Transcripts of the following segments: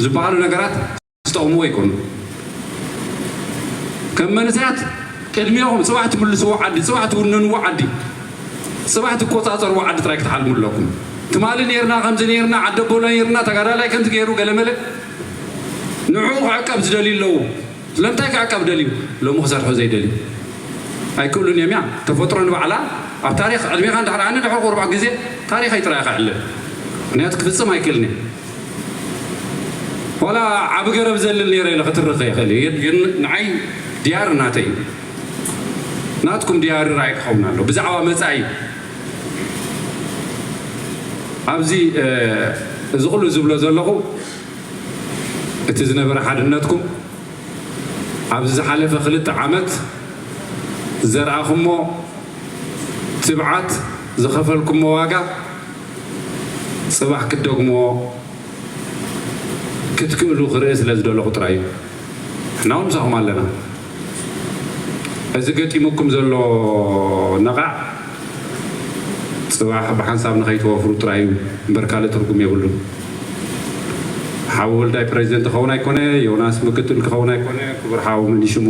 ዝበሃሉ ነገራት ዝጠቕምዎ ኣይኮኑን። ከም መንእሰያት ቅድሜኹም ጽባሕ ትምልስዎ ዓዲ፣ ጽባሕ ትውንንዎ ዓዲ፣ ጽባሕ ትቆጻጸርዎ ዓዲ ጥራይ ክትሓልሙ ኣለኩም። ትማሊ ኔርና ከምዚ ኔርና ዓዲ ኣቦና ኔርና ተጋዳላይ ከምዚ ገይሩ ገለመለ ንዕኡ ክዕቀብ ዝደልዩ ኣለዉ። ስለምንታይ ክዕቀብ ደልዩ? ሎሚ ክሰርሑ ዘይደልዩ ኣይክእሉን እዮም እያ ተፈጥሮ ንባዕላ ኣብ ታሪኽ ዕድሜኻ እንድሕር ኣነ ድሕሪ ቁርባዕ ግዜ ታሪኸይ ጥራይ ክዕልል ምክንያቱ ክፍጽም ኣይክእልን እየ ዋላ ዓቢ ገረብ ዘልል ነይረ ኢለ ክትርኽ ይኽእል እየ ግን ንዓይ ድያሪ ናተይ እዩ ናትኩም ድያሪ ራእይ ክኸውን ኣሎ ብዛዕባ መጻኢ ኣብዚ እዚ ኩሉ ዝብሎ ዘለኹ እቲ ዝነበረ ሓድነትኩም ኣብዚ ዝሓለፈ ክልተ ዓመት ዘርኣኹሞ ትብዓት ዝኸፈልኩሞ ዋጋ ጽባሕ ክትደግሞ ክትክእሉ ክርኢ ስለ ዝደለኹ ጥራይ እዩ። ንሕና እውን ምሳኹም ኣለና። እዚ ገጢሙኩም ዘሎ ነቓዕ ጽባሕ ብሓንሳብ ንኸይትወፍሩ ጥራይ እዩ እምበር ካልእ ትርጉም የብሉን። ሓው ወልዳይ ፕረዚደንት ክኸውን ኣይኮነ፣ ዮናስ ምክትል ክኸውን ኣይኮነ፣ ክቡር ሓው መን እዩ ሽሙ፣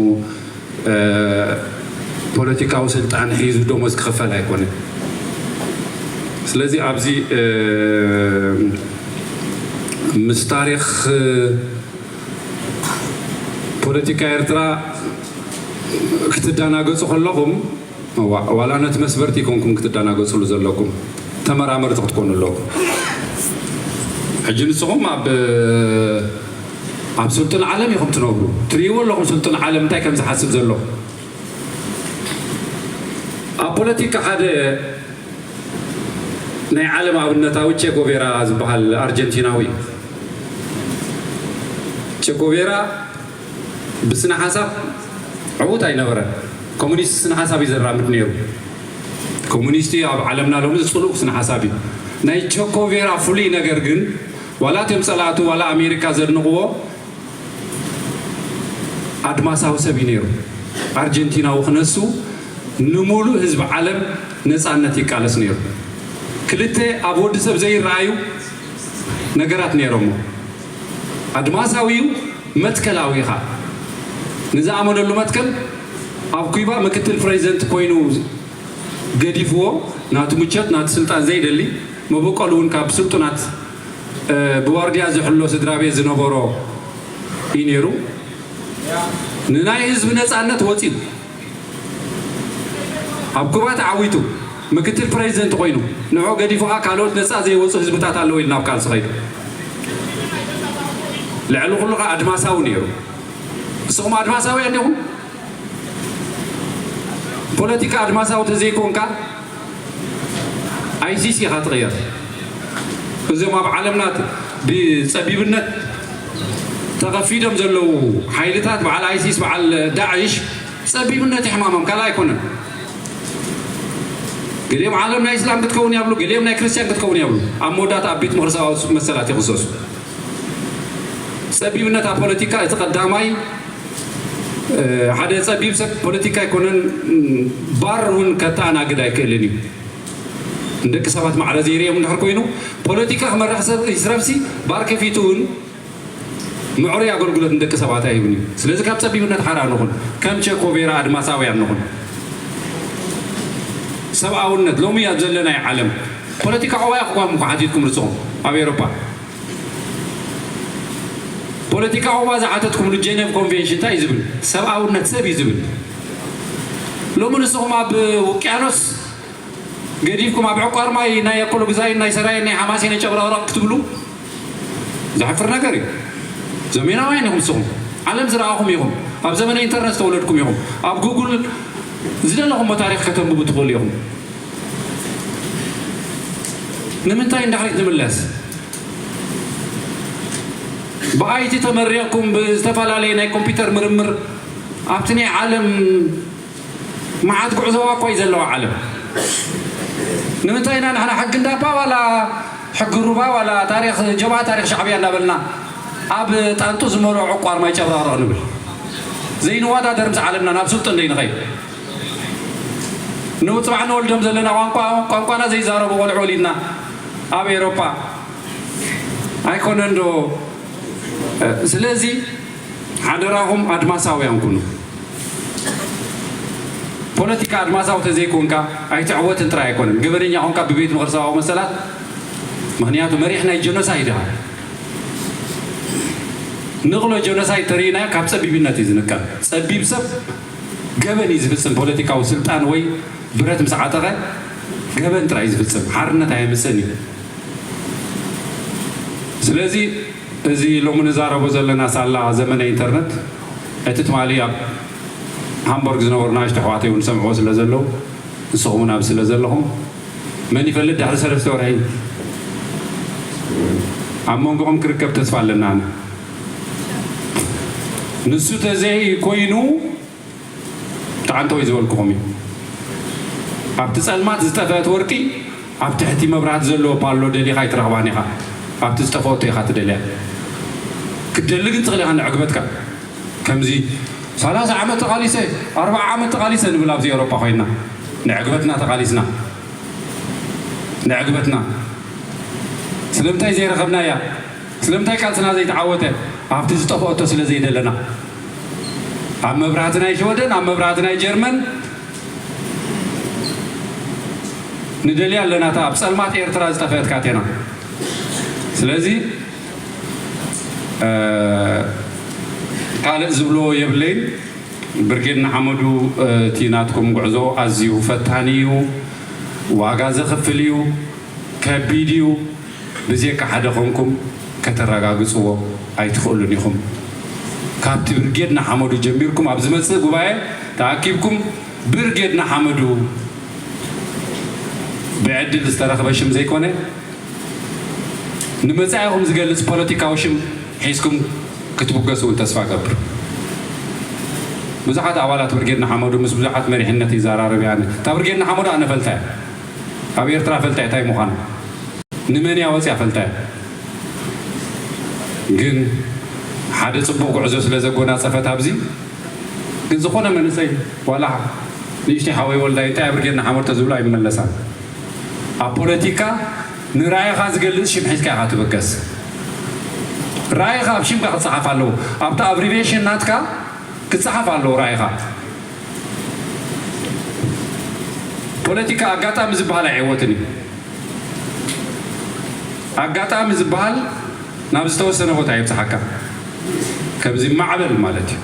ፖለቲካዊ ስልጣን ሒዙ ደሞዝ ክኽፈል ኣይኮነን። ስለዚ ኣብዚ ምስ ታሪኽ ፖለቲካ ኤርትራ ክትደናገጹ ከለኹም እዋእ ዋላ ነቲ መስበርቲ ኮንኩም ክትዳናገጽሉ ዘለኩም ተመራመርቲ ክትኮኑ ኣለኩም ሕጂ ንስኹም ኣብ ኣብ ስልጡን ዓለም ኢኹም ትነብሩ ትርእይዎ ኣለኹም ስልጡን ዓለም እንታይ ከም ዝሓስብ ዘሎ ኣብ ፖለቲካ ሓደ ናይ ዓለም ኣብነታዊ ቼጎቬራ ዝበሃል ኣርጀንቲናዊ ቼጎቬራ ብስነሓሳብ ዕዉት ኣይነበረን። ኮሙኒስት ስነሓሳብ እዩ ዘራምድ ነይሩ። ኮሙኒስት ኣብ ዓለምና ሎሚ ጽሉው ስነሓሳብ እዩ። ናይ ቸኮቬራ ፍሉይ ነገር ግን ዋላ እቶም ጸላእቱ ዋላ ኣሜሪካ ዘድንቕዎ ኣድማሳዊ ሰብ እዩ ነይሩ። ኣርጀንቲናዊ ክነሱ ንሙሉእ ህዝቢ ዓለም ነጻነት ይቃለስ ነይሩ። ክልተ ኣብ ወዲ ሰብ ዘይረኣዩ ነገራት ነይሮሞ። ኣድማሳዊ'ዩ መትከላዊ ኢኻ ንዝኣመነሉ መትከል ኣብ ኩባ ምክትል ፕረዚደንት ኮይኑ ገዲፍዎ ናቱ ምቾት ናቱ ስልጣን ዘይደሊ መበቆሉ'ውን ካብ ስልጡናት ብዋርድያ ዝሕሎ ስድራቤት ዝነበሮ ኢዩ ኔሩ ንናይ ህዝቢ ነጻነት ወጺኡ ኣብ ኩባ ተዓዊቱ ምክትል ፕረዚደንት ኮይኑ ንዑ ገዲፉ ከኣ ካልኦት ነጻ ዘይወጹ ህዝብታት ኣለዉ ኢሉ ናብ ቃልሲ ከይዱ። ልዕሊ ኩሉ ከኣ ኣድማሳዊ ነይሩ። ንስኹም ኣድማሳውያን ዲኹም? ፖለቲካ ኣድማሳዊ ተዘይኮንካ ኣይሲስ ኢኻ ትቕየር። እዞም ኣብ ዓለምና ብጸቢብነት ተኸፊዶም ዘለዉ ሓይልታት በዓል ኣይሲስ በዓል ዳዕሽ ጸቢብነት እዩ ሕማሞም ካልእ ኣይኮነን። ገሊኦም ዓለም ናይ እስላም ክትከውን እያ ብሉ፣ ገሊኦም ናይ ክርስትያን ክትከውን እያ ብሉ። ኣብ መወዳእታ ኣብ ቤት ምኽሪ ሰብኣዊ መሰላት ይኽሰሱ። ጸቢብነት ኣብ ፖለቲካ እቲ ቀዳማይ ሓደ ጸቢብ ሰብ ፖለቲካ ኣይኮነን ባር እውን ከተኣናግድ ኣይክእልን እዩ ንደቂ ሰባት ማዕረ ዘይርኦም እንድሕር ኮይኑ ፖለቲካ ክመርሕ ይስረብሲ ባር ከፊቱ እውን ምዕሩይ ኣገልግሎት ንደቂ ሰባት ኣይህብን እዩ ስለዚ ካብ ጸቢብነት ሓራ ንኹን ከም ቸኮቬራ ኣድማሳውያን ንኹን ሰብኣውነት ሎሚ ኣብ ዘለናይ ዓለም ፖለቲካ ዕዋያ ክኳም እኳ ሓቲትኩም ርጽኹም ኣብ ኤሮፓ ፖለቲካኹማ ዝሓተትኩምሉ ጀነቭ ኮንቬንሽን እንታይ እዩ ዝብል? ሰብኣውነት ሰብ እዩ ዝብል። ሎሚ ንስኹም ኣብ ውቅያኖስ ገዲፍኩም ኣብ ዕቋር ማይ ናይ ኣኮሎ ግዛይን ናይ ሰራየን ናይ ሓማሴን ጨብረቕረቕ ክትብሉ ዘሕፍር ነገር እዩ። ዘሜናውያን ኢኹም ንስኹም። ዓለም ዝረኣኹም ኢኹም። ኣብ ዘመነ ኢንተርነት ዝተወለድኩም ኢኹም። ኣብ ጉግል ዝደለኹሞ ታሪኽ ከተንብቡ ትኽእሉ ኢኹም። ንምንታይ ንዳሕሪት ንምለስ ብኣይቲ ተመሪቕኩም ብዝተፈላለየ ናይ ኮምፒውተር ምርምር ኣብቲ ናይ ዓለም መዓት ጉዕዞዋ እኳ እዩ ዘለዋ ዓለም ንምንታይ ኢና ንሕና ሕጊ እንዳባ ዋላ ሕጊ ሩባ ዋላ ታሪክ ጀባ ታሪክ ሻዕብያ እንዳበልና ኣብ ጣንጡ ዝመልኦ ዕቋር ማይ ጨብረቕረቕ ንብል ዘይንወዳደር ምስ ዓለምና ናብ ስልጡን ዘይንኸይድ ንጽባሕ ንወልዶም ዘለና ቋንቋ ቋንቋና ዘይዛረቡ ቆልዑ ወሊድና ኣብ ኤሮፓ ኣይኮነንዶ ስለዚ ሓደራኹም ኣድማሳውያን ኩኑ ፖለቲካ ኣድማሳዊ ተዘይኮንካ ኣይትዕወትን ጥራይ ኣይኮነን ገበነኛ ኮንካ ብቤት ምኽሪ ሰብኣዊ መሰላት ምክንያቱ መሪሕ ናይ ጀኖሳይድ ኢኻ ንቕሎ ጀኖሳይድ ተርእዩና ካብ ፀቢብነት እዩ ዝንቀል ፀቢብ ሰብ ገበን እዩ ዝፍጽም ፖለቲካዊ ስልጣን ወይ ብረት ምስ ዓጠቐ ገበን ጥራይ እዩ ዝፍጽም ሓርነት ኣየምጽእን እዩ ስለዚ እዚ ሎሚ ንዛረቦ ዘለና ሳላ ዘመነ ኢንተርነት እቲ ትማሊ ኣብ ሃምቦርግ ዝነበሩ ናእሽቱ ኣሕዋተይ እውን ዝሰምዕዎ ስለ ዘለዉ ንስኹም እውን ኣብዚ ስለ ዘለኹም መን ይፈልጥ ድሕሪ ሰለስተ ወርሒ ኣብ መንጎኦም ክርከብ ተስፋ ኣለና ኣነ ንሱ ተዘይ ኮይኑ ተዓንተወይ ዝበልኩኹም እዩ ኣብቲ ጸልማት ዝጠፈአት ወርቂ ኣብ ትሕቲ መብራህቲ ዘለዎ ፓሎ ደሊኻ ኣይትረኽባን ኢኻ ኣብቲ ዝጠፈኦቶ ኢኻ ትደልያ ክትደሊ ግን ትኽእል ኢኻ ንዕግበትካ ከምዚ ሰላሳ ዓመት ተቓሊሰ ኣርብዓ ዓመት ተቓሊሰ ንብል ኣብዚ ኤውሮጳ ኮይና ንዕግበትና ተቓሊስና ንዕግበትና ስለምንታይ ዘይረኸብናያ ስለምንታይ ቃልስና ዘይተዓወተ ኣብቲ ዝጠፈኦቶ ስለ ዘይደለና ኣብ መብራህቲ ናይ ሽወደን ኣብ መብራህቲ ናይ ጀርመን ንደልያ ኣለና እታ ኣብ ጸልማት ኤርትራ ዝጠፈአት ካቴና ስለዚ ካልእ ዝብሎ የብለይን ብርጌድ ንሓመዱ እቲ ናትኩም ጉዕዞ ኣዝዩ ፈታኒ እዩ ዋጋ ዘኽፍል እዩ ከቢድ እዩ ብዜካ ሓደ ኮንኩም ከተረጋግጽዎ ኣይትኽእሉን ኢኹም። ካብቲ ብርጌድ ንሓመዱ ጀሚርኩም ኣብ ዝመጽእ ጉባኤ ተኣኪብኩም ብርጌድ ንሓመዱ ብዕድል ዝተረኽበ ሽም ዘይኮነ ንመጻኢኹም ዝገልጽ ፖለቲካዊ ሽም ሒዝኩም ክትብገሱ እውን ተስፋ እገብር። ብዙሓት ኣባላት ብርጌድ ንሓመዱ ምስ ብዙሓት መሪሕነት ይዘራረብ እየ ኣነ። እታ ብርጌድ ንሓመዱ ኣነ እፈልጣ እየ። ኣብ ኤርትራ ፈልጣ'የ ታይ ምዃና ንመን'ያ ወጺኣ ፈልጣ'የ ግን ሓደ ጽቡቕ ጉዕዞ ስለ ዘጎናጸፈት ኣብዚ ግን ዝኾነ መንእሰይ ዋላ ንእሽተይ ሓወይ ወልዳይ እንታይ ኣብርጌና ሓመር ተዝብሎ ኣይመለሳን ኣብ ፖለቲካ ንራኢኻ ዝገልጽ ሽም ሒዝካ ኢኻ ትብገስ ራኢኻ ኣብ ሽምካ ክጸሓፍ ኣለዎ ኣብቲ ኣብሪቬሽን ናትካ ክጸሓፍ ኣለዎ ራኢኻ ፖለቲካ ኣጋጣሚ ዝበሃል ኣይዕወትን እዩ። ኣጋጣሚ ዝበሃል ናብ ዝተወሰነ ቦታ የብጽሓካ። ከምዚ ማዕበል ማለት እዩ።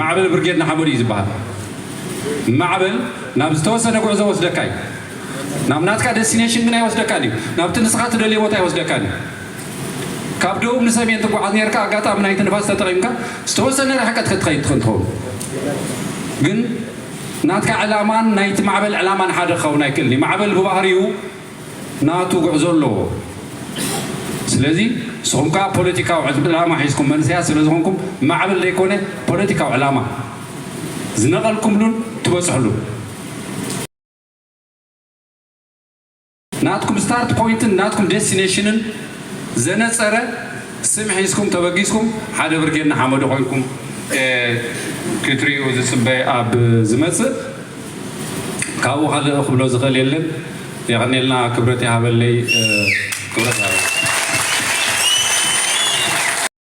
ማዕበል ብርጌድ ንሓመዱ እዩ ዝበሃል። ማዕበል ናብ ዝተወሰነ ጉዕዞ ወስደካ እዩ። ናብ ናትካ ደስቲኔሽን ግን ኣይወስደካን እዩ። ናብቲ ንስኻ ትደልዮ ቦታ ኣይወስደካን እዩ። ካብ ደቡብ ንሰሜን ትጓዓዝ ኔርካ ኣጋጣሚ ናይቲ ንፋስ ተጠቒምካ ዝተወሰነ ርሕቀት ከትኸይድ ትኽእል ትኸውን ግን ናትካ ዕላማን ናይቲ ማዕበል ዕላማን ሓደ ክኸውን ኣይክእልን እዩ ማዕበል ብባህሪኡ ናቱ ጉዕዞ ኣለዎ ስለዚ ንስኹም ከዓ ፖለቲካዊ ዕላማ ሒዝኩም መንእሰያት ስለ ዝኾንኩም ማዕበል ዘይኮነ ፖለቲካዊ ዕላማ ዝነቐልኩምሉን ትበፅሕሉን ናትኩም ስታርት ፖይንትን ናትኩም ዴስቲኔሽንን ዘነጸረ ስም ሒዝኩም ተበጊስኩም ሓደ ብርጌድ ንሓመዱ ኮይንኩም ክትሪኡ ዝጽበ ኣብ ዝመጽእ ካብኡ ካልእ ክብሎ ዝኽእል የለን። የቀኔልና ክብረት ይሃበለይ ክብረት ይሃበለይ።